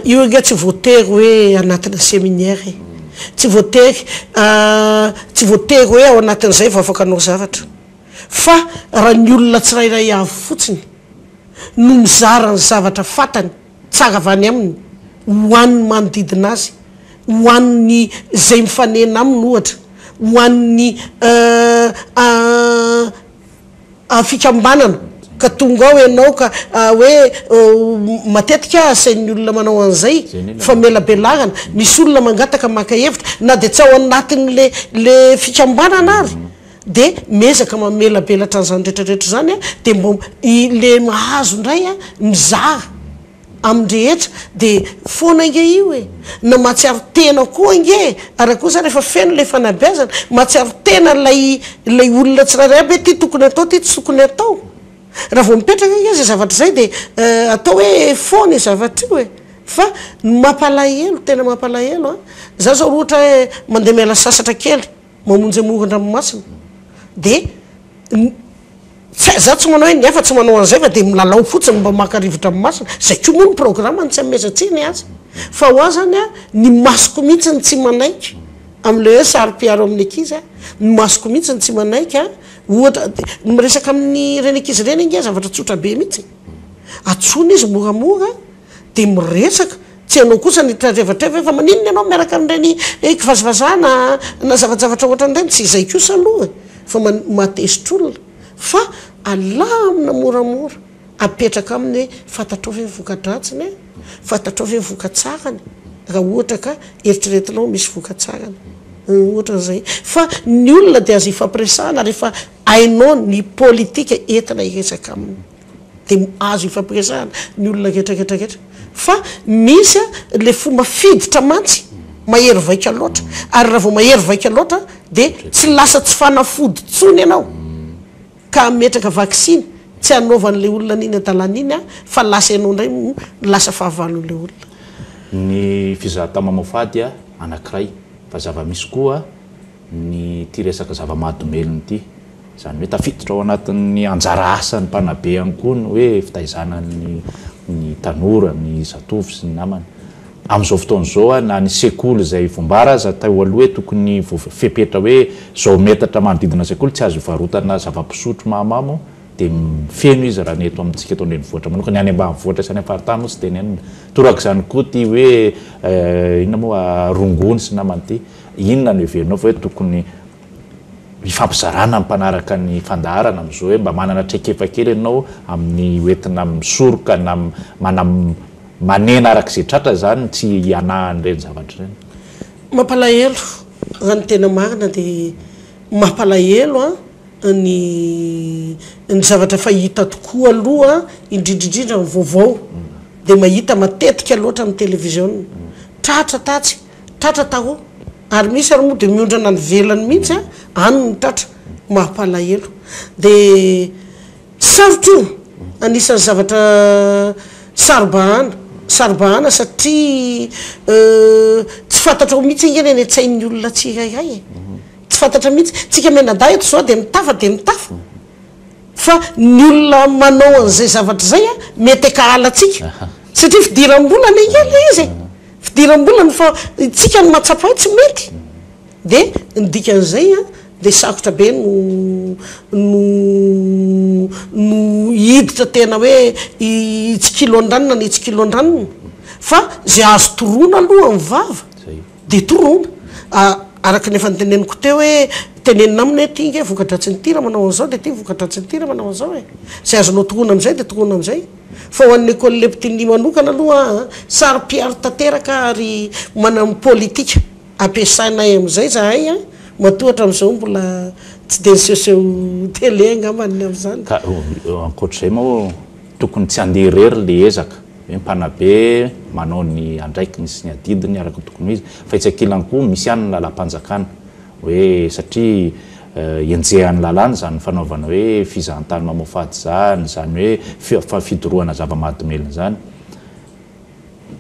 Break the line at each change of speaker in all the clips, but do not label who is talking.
Io ange tsy voatery hoe anatina seminaire e. Tsy voatery tsy voatery hoe ao anatin'izay vao afaka hanao zavatra. Fa raha ny olona tsirairay avy fotsiny no mizara ny zavatra fantany. Tsara avy any aminy, ho an'ny manodidina azy, ho an'ny izay mifanena aminy ohatra, ho an'ny a fikambanana ka tonga ao ianao ka hoe matetika aho asain'ny olona manao an'izay famelabelarana, misy olona mangataka maka hevitra na dia tsy ao anatin'le le fikambanana ary. Dia miezaka mamelabelatra an'izany rehetra rehetra izany dia mba ilay mahazo indray mizara amin'ny rehetra dia foana ange io e! na mahatsiaro tena koa ange e! ary kosa rehefa feno ilay fanabeazana mahatsiaro tena ilay ilay olona tsirairay aby hoe ity tokony atao ity tsy tokony atao raha vao mipetraka ange izay zavatra izay dia atao hoe foana io zavatra io e! fa ny mampalahelo tena mampalahelo an! za zao raha ohatra hoe mandeha miala sasatra kely Mamonjy amoron-dranomasina dia ny tsy za tsy manao hoe ny hafa tsy manao an'izay fa dia milalao fotsiny mba maka rivo-dranomasina izay koa moa ny programme ny tsy amezantsika ny azy fa ho ahy zany a ny masoko mihitsy ny tsy manaiky amin'ilay hoe saro-piaro amin'ny ankizy a ny masoko mihitsy ny tsy manaiky a ohatra miresaka amin'ny ireny ankizy ireny ange zavatra tsotra be mihitsy e antsoina izy moramora dia miresaka Tsy hainao kosa ny tratrevatreva hoe fa maninona ianao miaraka amin'ireny kivazivazana na zavajavatra ohatran'ireny, tsy izay kosa aloha e, fa mahateztr'olona, fa alamina moramora, apetraka aminy hoe fantatrao ve ny vokadratsiny e, fantatrao ve ny vokatsarany raha ohatra ka eritreretinao misy vokatsarany, ohatran'izay, fa ny olona dia azo ifampiresahana rehefa hainao ny politika entina hiresaka aminy. Dia azo ifampiresahana ny olona rehetra rehetra rehetra. Fa misy a, ilay fomba fiditra mantsy mahery vaika loatra. Ary raha vao mahery vaika loatra dia tsy lasa tsy fanafody intsony ianao ka hametraka vaksiny tsy hanaovan'ilay olona an'iny adalana iny aho fa lasa ianao indray no lasa fahavalon'ilay olona. Ny
fizahantao mamoafady anankiray. Fa zava-misy koa. Ity resaka zava-mahadomelina ity, izany hoe tafiditra ao anatin'ny anjara asan'ny mpanabe ihany koa ny hoe fitaizana ny tanora, ny zatovo sy ny namany. Amin'izao fotoana izao, na ny sekoly izay voambara aza teo aloha hoe tokony fepetra hoe izao metatra manodidina sekoly tsy azo ivarotana zava-pisotro mahamamo, dia feno izy raha ny eto amintsika eto an-drenivohitra manokana. Ny any ambanivohitra sy any am-paritany moa tsy dia nenina. Torak'izany koa ity hoe inona moa, rongony sy namany ity. Inona no heverinao fa hoe tokony hifampizarana ny mpanaraka ny fandaharana amin'izao hoe mba manana traikefa kely ianao amin'ny hoentina misoroka na mana manena araka izay tratra izany tsy hianahan'ireny zavatra ireny? Mampalahelo,
raha ny tena marina dia mampalahelo ny ny zavatra efa hita tokoa aloha indrindra indrindra ny vaovao dia mahita matetika loatra amin'ny television. Tratra tatsy Tratra taho ary misy ary moa dia miondrana any ivelany mihitsy a, any no tratra, mampalahelo. Dia sarotra io, anisan'ny zavatra saro-bahana, saro-bahana satria tsy fantatrao mihitsy ange ny any an-tsain'ny olona tsirairay e, tsy fantatra mihitsy. Tsika mianadahy eto izao dia mitafa dia mitafa, fa ny olona manao an'izay zavatra izay a, mety an-kahalantsika, satria fidiram-bola anie angeh ilay izy e. Fidiram-bola no fa isika no mahatsapa hoe tsy mety dia ny dikan'izay an dia sarotra be no no no hiditra tena hoe hitsikilon-dranona ny hitsikilon-dranona fa izay azo toroana aloha amin'ny vava dia toroana a araka ny efa noteneniko teo hoe tenenina aminy hoe ity nge voka-dratsin'ny ity raha manao an'izao dia ity voka-dratsin'ny ity raha manao an'izao e izay azonao toroana amin'izay dia toroana amin'izay. Fa ho an'ny Ecole Leptini manokana aloha, saro-piaro tanteraka ary manam politika ampiasaina ahy amin'izay izahay matoa hatramin'izao mbola tsy dia nisehoseho télé angamba ny amin'izany. Ka
ankoatr'izay moa tokony tsy handeha irery ilay ezaka hoe mpanabe manao ny andraikiny sy ny adidiny araka ny tokony ho izy fa etsy ankilany koa misy ihany ny lalam-panjakana Hoe satria enjehan'ny lalàna izany fanaovana hoe fizahantany mamoafady izany, izany hoe fa fidorohana zava-mahadomelina izany.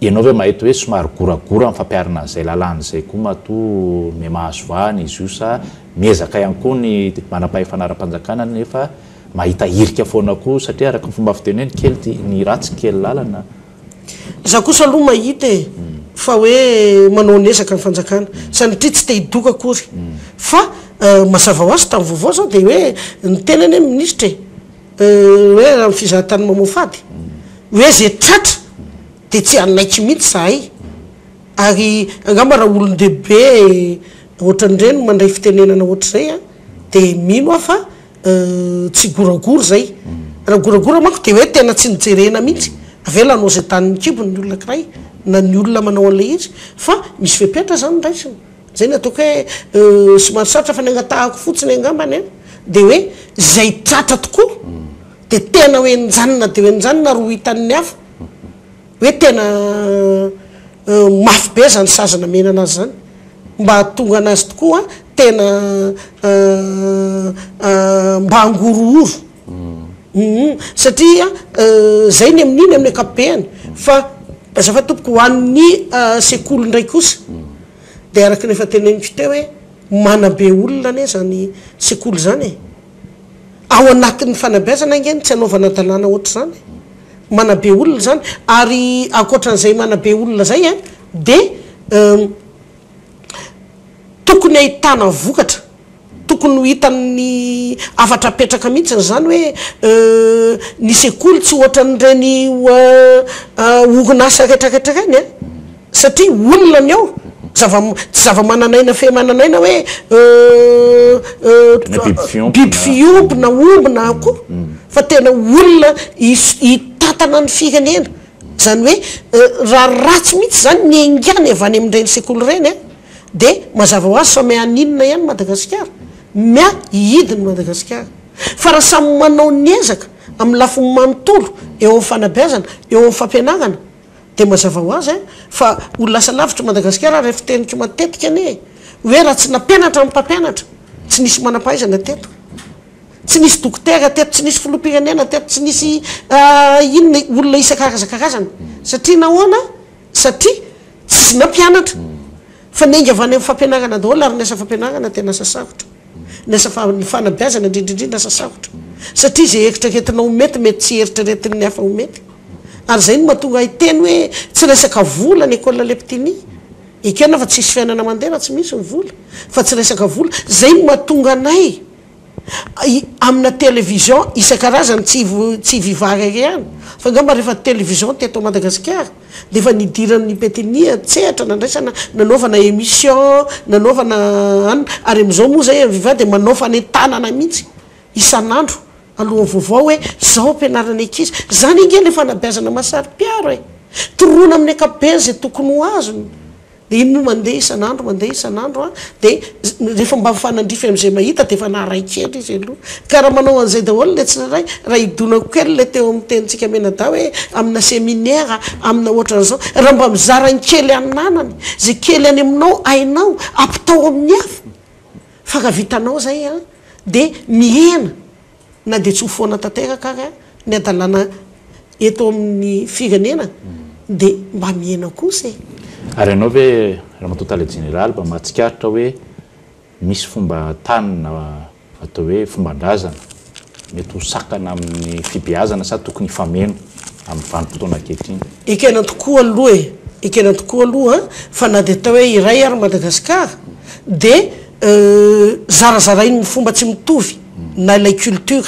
Ianao ve mahita hoe somary goragora ny fampiharana an'izay lalàna izay koa matoa mihamahazo vahana izy io sa miezaka ihany koa ny manampahefana ara-panjakana nefa mahita hirika foana koa satria araka ny fomba fiteny hoe ny kely tia ny ratsy kely lalana? Za
kosa aloha mahita e, fa hoe manao ny ezaka ny fanjakana, sanatria tsy te hidoka akory, fa mazava hoazy tamin'ny vaovao zao dia hoe ny tenany anie minisitra e, hoe raha ny fizahatany mamoafady, hoe zay tratra dia tsy hanaiky mihitsy zahay, ary angamba raha olon-dehibe ohatran'ireny mandray fitenenana ohatr'izay an, dia mino aho fa. Tsy goragora zay. Raha goragora manko dia hoe tena tsy nojerena mihitsy. Avy eo lanao izay danin'ny kibony ny olona ankiray na ny olona manao an'ilay izy fa misy fepetra zany ny raisiny. Zay no ataoko hoe somary sarotra fa ny angatahako fotsiny angambany an dia hoe izay tratra tokoa dia tena hoe nijanona dia hoe nijanona ary ho hitan'ny hafa. Hoe tena mafy be zany sazy namena anazy zany mba hahatonga anazy tokoa tena mba hangorohoro humm satria zay ny amin'iny amin'ny ankapobeany fa azafady tompoko ho an'ny sekoly ndray kosa de araka ny efa teneniko teo hoe manabe olona anie zany sekoly zany e! Ao anatin'ny fanabeazana ange no tsy anaovana dalàna ohatr'izany e! Manabe olona izany. Ary ankoatran'izay manabe olona izay a, dia tokony ahitana vokatra, tokony ho hitan'ny hafatra apetraka mihitsy izany hoe ny sekoly tsy ohatran'ireny orinasa retraretra ireny a! Satria olona ny ao, zava tsy zava-manan'aina fe manan'aina hoe euh euh biby fiompy na omby na akoho fa tena olona hitantana ny firenena. Izany hoe raha ratsy mihitsy izany ny haingana avy any amin'ireny sekoly ireny an, dia mazava ho azy fa miahy an'inona ihany Madagasikara? Miahy hihidy ny Madagasikara. Fa raha samy manao ny ezaka amin'ny lafiny manontolo eo amin'ny fanabeazana, eo amin'ny fampianarana, Dia mazava ho azy fa ho lasa lavitra i Madagasikara ilay fiteniko matetika anie e! Hoe raha tsy nampianatra ny mpampianatra, tsy nisy manam-pahaizana teto, tsy nisy dokotera teto, tsy nisy filoham-pirenena teto, tsy nisy inona e, olona isan-karazan-karazany. Satria nahoana? Satria tsisy nampianatra. Fa niainga avy any amin'ny fampianarana daholo ary ny asa fampianarana tena asa sarotra. Ny asa fa ny fanabeazana indrindra indrindra asa sarotra satria izay eritreretinao ho mety mety tsy eritreretin'ny hafa ho mety ary izay no mahatonga ahy hiteny hoe tsy resaka vola ny école Leptini ekena aho fa tsisy fiainana mandeha raha tsy misy ny vola fa tsy resaka vola izay no mahatonga anay amina télévision isan-karazany tsy tsy Viva Rary ihany fa angamba rehefa télévision teto Madagasikara Dia efa nidiran'ny Petini an-tsehatra nandraisana nanaovana emission nanaovana an, ary amin'izao moa izay Aviva dia manao fanentanana mihitsy isan'andro alohan'ny vaovao hoe izao ampianarana ny ankizy. Izany ange ilay fanabeazana mahasaripiharo e! Toroana amin'ny ankapobeny izay tokony ho azony. Dia iny moa mandeha isan'andro, mandeha isan'andro an! Dia rehefa mba mifanandrify amin'izay mahita dia efa naharay kely izy aloha. Ka raha manao an'izay daholo ilay tsirairay, raha hidonako kely ilay teo amin'ny tenintsika Menadahy hoe amina seminera, amina ohatran'izao, raha mba mizara ny kely ananany, izay kely any aminao hainao, ampitao amin'ny hafa, fa raha vitanao izay an! dia mihena Na dia tsy ho foana tanteraka ary ny hadalana eto amin'ny firenena dia mba mihena kosa e! Ary ianao ve
Ramatoa Tale Jeneraly mba mahatsikaritra hoe misy fomba tanana atao hoe fomban-drazana mety ho sakana amin'ny fibeazana sa tokony hifameno amin'ny vanim-potoana ankehitriny? Ekena tokoa
aloha e! Ekena tokoa aloha an! Fa na dia atao hoe iray ary Madagasikara dia zarazarain'ny fomba tsy mitovy na ilay culture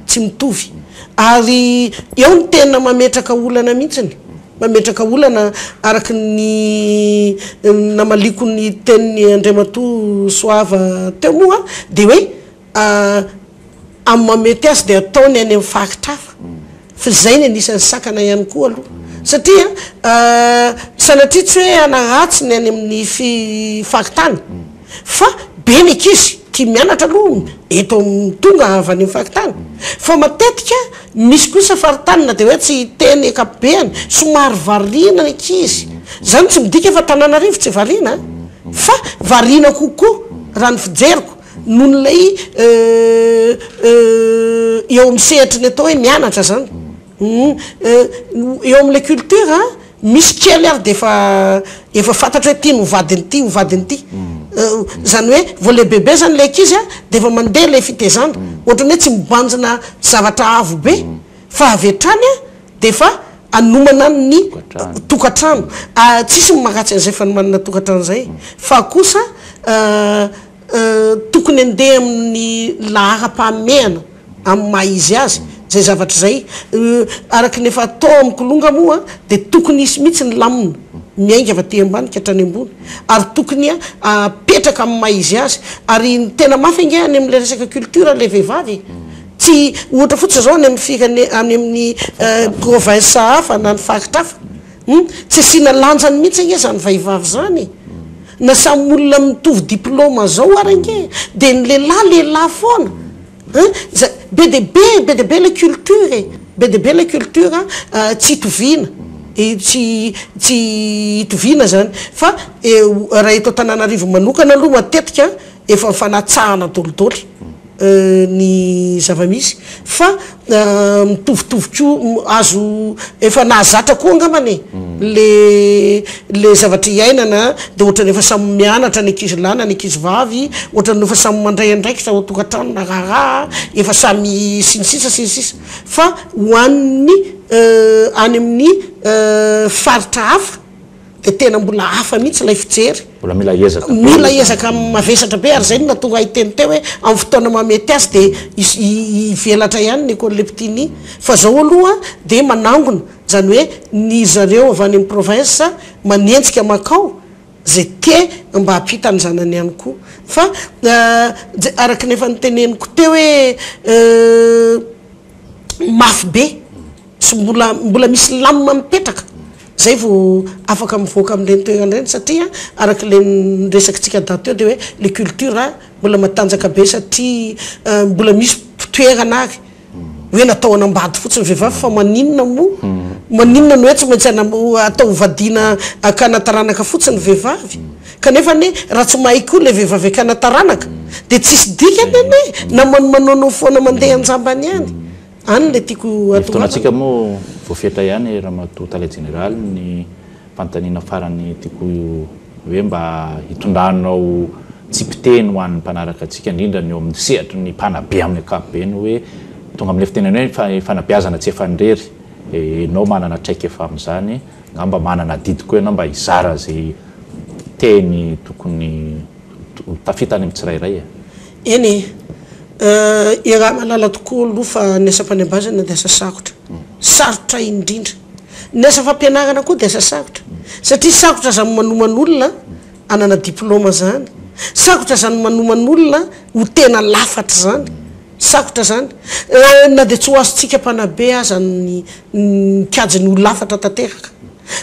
tsy mitovy ary eo no tena mametraka olana mihitsiny, mametraka olana araka ny namaliako ny tenin'i Andriamatoa Soava teo moa dia hoe amin'ny maha mety azy dia ataony any amin'ny faritra hafa. Fa izay ny anisan'ny sakana ihany koa aloha. Satria sanatria tsy hoe hanaratsy ny any amin'ny faritany fa be ny ankizy tia mianatra aloha eto amin'ny tonga avy any amin'ny faritany. Fa matetika misy kosa faritany na dia hoe tsy hiteny ankapobeny somary variana ny ankizy. Izany tsy midika fa Antananarivo tsy variana an! Fa variana kokoa raha ny fijeriko. noho ilay eo amin'ny sehatry ny atao hoe mianatra izany eo amin'ilay culture misy kely ary dia efa efa fantatro hoe ity no ho vadin'ity ho vadin'ity izany hoe vao lehibebe izany ilay ankizy a dia efa mandeha ilay fitaizana ohatran'ny hoe tsy mibanjina zavatra avo be fa avy hatrany a dia efa hanomana ny tokantrano tsisy ny mankatsy an'izay fa ny manana tokantrano izay fa kosa Tokony handeha amin'ny laharam-pahamehana amin'ny maha izy azy izay zavatra izay. Araka ny efa atao amin'ny kilonga moa dia tokony hisy mihitsy ny lamina miainga avy aty ambany ka hatrany ambony ary tokony hapetraka amin'ny maha izy azy. Ary ny tena mafy ange any amin'ilay resaka culture ilay vehivavy e! Tsy ohatra fotsiny izao any amin'ny firene-, any amin'ny provinces hafa na ny faritra hafa. Hum, tsy asiana lanjany mihitsy ange zany vahivavy zany e! Na samy olona mitovy diploma zao ary ange de ny lehilahy lehilahy foana hein! Zay, be dia be e, be dia be ilay culture e! Be dia be ilay culture tsy itoviana, tsy tsy itoviana zany fa raha eto Antananarivo manokana aloha matetika efa mifanatsahana dolidoly. ny zava-misy fa mitovitovy koa azo efa nahazatra koa angambany e le le zavatra iainana de ohatrany efa samy mianatra ny ankizy lahy na ny ankizy vavy ohatrany efa samy mandray andraikitra ao an-tokantrano na raharaha efa samy sy ny sisa sy ny sisa fa ho an'ny any amin'ny faritra hafa dia tena mbola hafa mihitsy ilay fijery. Mbola mila ezaka be.
Mila ezaka
mavesatra be ary izay no nahatonga ahy hiteny teo hoe amin'ny fotoana mahamety azy dia hivelatra ihany ny école Leptini. Fa izao aloha dia manangona, izany hoe ny zareo avy any amin'ny province manenjika mankao izay te mba hampita ny zanany ihany koa. Fa araka ny efa noteneniko teo hoe. mafy be, tsy mbola, mbola misy lamina mipetraka, zay vao afaka mivoaka amin'ireny toerana ireny satria araka ilay niresakintsika daty teo dia hoe le culture mbola matanjaka be satria mbola misy mpitoerana ary hoe natao hanambady fotsiny ny vehivavy fa maninona moa, maninona no hoe tsy maintsy atao hovadiana hakana taranaka fotsiny ny vehivavy? Kanefa anie raha tsy mahay koa ilay vehivavy hakana taranaka dia tsisy dikany anie na manomanono foana mandeha an-jambany ihany. Any ilay tiako hatongavanao. Ny fotoanantsika moa
voafetra ihany Ramatoa Tale Jeneraly, ny fanontaniana farany tiako hoe mba hitondranao tsipiteny ho an'ny mpanaraka antsika indrindra ny eo amin'ny sehatry ny mpanabe amin'ny ankapobeny hoe tonga amin'ilay fitenenana hoe fanabeazana tsy efa an-drery dia ianao manana traikefa amin'izany Angamba manana adidy koa ianao mba hizara izay teny tokony ho tafita any amin'ny tsirairay e! Eny
eh, iaraha mahalala tokoa aloha fa ny asam-panebazana dia asa sarotra. Sarotra indrindra. Ny asa fampianarana koa dia asa sarotra. Satria sarotra aza ny manomana olona hanana diploma zany. Sarotra zany manomana olona ho tena lafatra zany. Sarotra zany. Na dia tsy ho azontsika mpanabe aza ny mikajy ny ho lafatra tanteraka.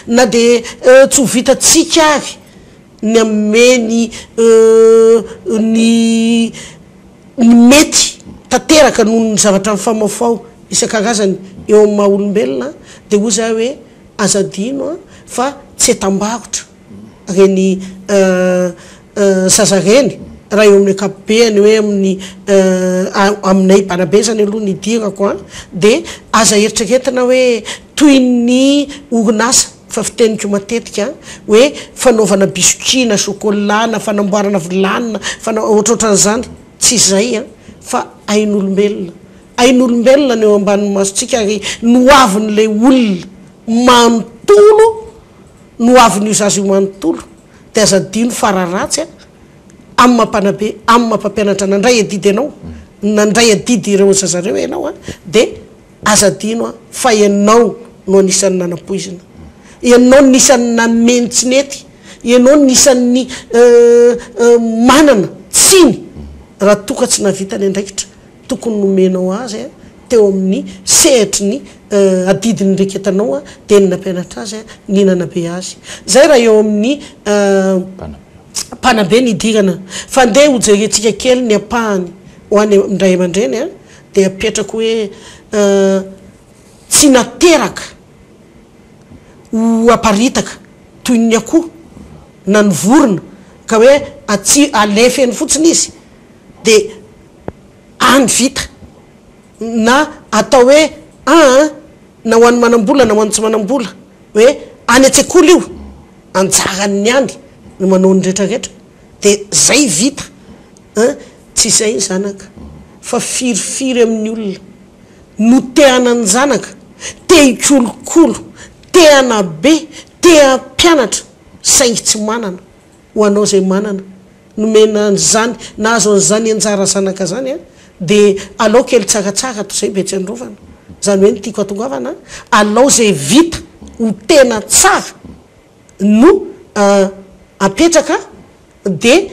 Na dia tsy ho vitantsika ary ny hanome ny ny ny mety tanteraka noho ny zavatra mifamaofao isan-karazany eo amin'ny maha olombelona dia hoy za hoe aza adino an fa tsy entam-barotra. reny zaza reny raha eo amin'ny ankapobeny hoe amin'ny aminay banabe zany aloha ny idirako a de aza eritreretina hoe toy ny orinasa fa fiteniko matetika hoe fanaovana biscuit na chocolat na fanamboarana vilany na fana- ohatrohatran'izany tsy izay a fa ain'olombelona ain'olombelona no eo ambanin'ny masontsika ary nohavin'ilay olona manontolo no ho avin'io zaza io manontolo dia aza adino fa raha ratsy a amin'ny maha mpanabe amin'ny maha mpampianatra nandray adidy anao nandray adidy ireo zaza ireo ianao a dia aza adino a fa ianao no anisan'ny nanampoizina ianao no isan'ny nanome ny tsy nety ianao no isan'ny manana tsiny raha toa ka tsy nahavita ny andraikitra tokony nomenao azy teo amin'ny sehatry ny adidy niraiketanao dia ny nampianatra azy ny nanabe azy. Izay raha eo amin'ny mpanabe ny hidirana. Fa andeha hojerentsika kely ny ampahany ho an'ny ray aman-dreny dia apetrako hoe tsy nateraka ho aparitaka toy ny akoho na ny vorona ka hoe atsy alefa eny fotsiny izy dia any vita na atao hoe an na ho an'ny manambola na ho an'ny tsy manambola hoe any an-tsekoly io anjaran'ny any no manao ny rehetra rehetra dia zay vita an tsy izay ny zanaka fa firifiry amin'ny olona no te hanan-janaka te hikolokolo te hanabe te hampianatra saingy tsy manana Ho anao izay manana, nomena an'izany, nahazo an'izany anjara zanaka izany an, dia alao kely tsaratsara toy izay mba etsy androvana. Izany hoe ny tiako hatongavana an, alao izay vita ho tena tsara no apetraka dia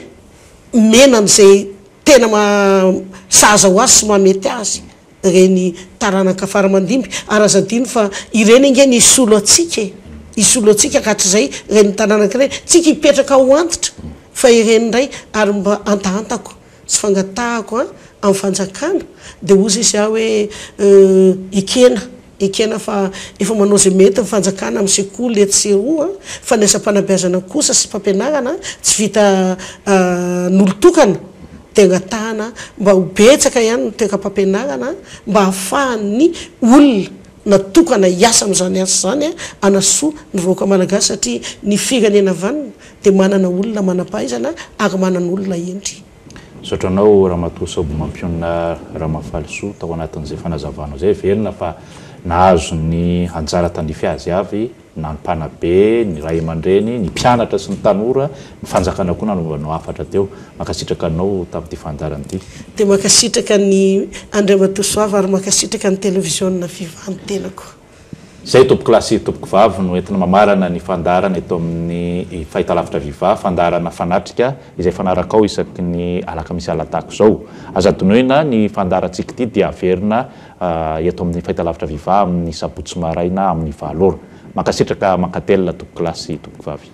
mena an'izay tena maha sahaza ho azy sy maha mety azy. ireny taranaka faramandimby ary aza adino fa ireny ange no hisolo antsika e! hisolo antsika ka hatrizay ireny taranaka ireny tsika hipetraka ho antitra fa ireny indray ary mba antahantako sy fangatahako an! amin'ny fanjakana dia hozy izy aho hoe ekena Ekena fa efa manao izay mety ny fanjakana amin'ny sekoly etsy sy eroa fa ny asam-panabeazana kosa sy mpampianarana tsy vita an'olon-tokana dia angatahana mba ho betsaka ihany ny toekam-pampianarana mba hahafahan'ny olona natokana hiasa amin'izany asa izany hanasoa ny vahoaka malagasy satria ny firenena vanona dia manana olona manam-pahaizana ary manana olona hendry Misaotra anao
Ramatoa Saoby Mampionona Ramafalisoa tao anatin'izay fanazavanao izay, velona fa nahazo ny anjara tandrify azy avy na ny mpanabe, ny ray aman-dreny, ny mpianatra sy ny tanora, ny fanjakana koa nanova anao hafatra teo. Mankasitraka anao tamin'ity fandaharana ity. Dia mankasitraka
ny Andriamatoa Soava ary mankasitraka ny Televiziona Viva ny tenako. Izay
tompokolahy sy tompokovavy no entina mamarana ny fandaharana eto amin'ny Fahitalavitra Viva, fandaharana fanatrika izay fanarakao isaky ny alakamisy alatako izao. Aza adinoina, ny fandaharantsika ity dia averina eto amin'ny Fahitalavitra Viva amin'ny sabotsy maraina amin'ny valo ora. Mankasitraka mankatelina tompokolahy sy tompokovavy.